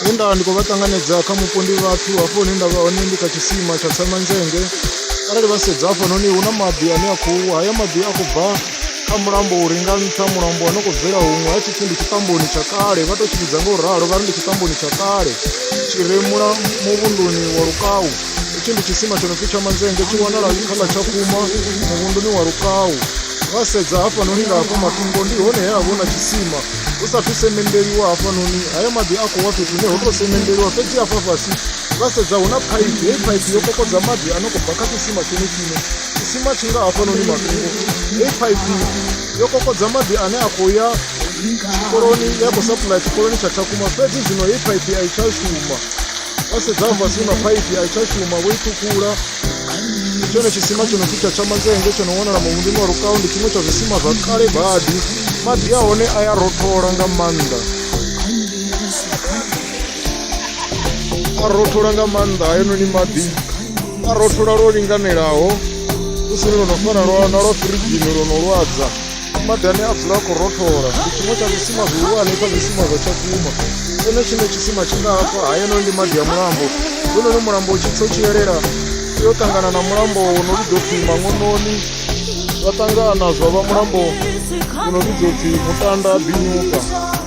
he nda ndi khou vha ṱanganedza kha mupo ndi vhathu hafho hune nda vha hone ndi kha tshisima tsha tsemanzhenge arali vha sedza hafhanoni hu na maḓi ane a khou wa haya maḓi a khou bva kha mulambo u ri nga nṱha mulambo wa no khou bvela huṅwe a tshi pfhi ndi tshiṱamboni tsha kale vha tou tshi vhidza nga u ralo vha ri ndi tshiṱamboni tsha kale tshi re mula muvhunduni wa lukau hetshi ndi tshisima tsho no pfhi tsha manzenge tshi wanala kha ḽa tsha kuma muvhunduni wa lukau vha sedza hafhanoni nga hafha matungo ndi hone he a vhona tshisima hu sathu semendeliwa hafhanoni haya maḓi a khou wa fhethu hune ho tou semendeliwa fhedzi hafha fhasi vha sedza hu na phaiphi heyi phaiphi yo kokodza maḓi a no khou bva kha tshisima tshenetshine tshisima tshi nga hafhanoni matungo hiv yo kokodza maḓi ane a khou ya tshikoloni ya khou sapulaya tshikoloni tsha tshakhuma fhedzi zwino hiv a i tsha shuma vha sedza fhasi na phaiphi a i tsha shuma vho i ṱhukhula tshone tshisima tsho no pfi tsha tshamanzenge tsho no wanala muvhundini wa rukau ndi tshiṅwe tsha zwisima zwa kale badi maḓi a hone a ya rothola nga maanḓa a rothola nga maanḓa hayanoni maḓi a rothola lwo linganelaho hu si lwo no fana lwa na lwa firigini lwo no lwadza maḓi ane a dzula a khou rothola ndi tshiṅwe tsha zwisima zwihulwane kha zwisima zwa tshakhuma ene tshine tshisima tshi nga hafha hayenoni ndi maḓi a mulambo hononi mulambo u tshi tsa u tshi yelela yo ṱangana na mulambo wo no vhidzwa pfhi mangononi zwa ṱangana zwa vha mulambo wo no vhidzwa pfhi mutanda binyuka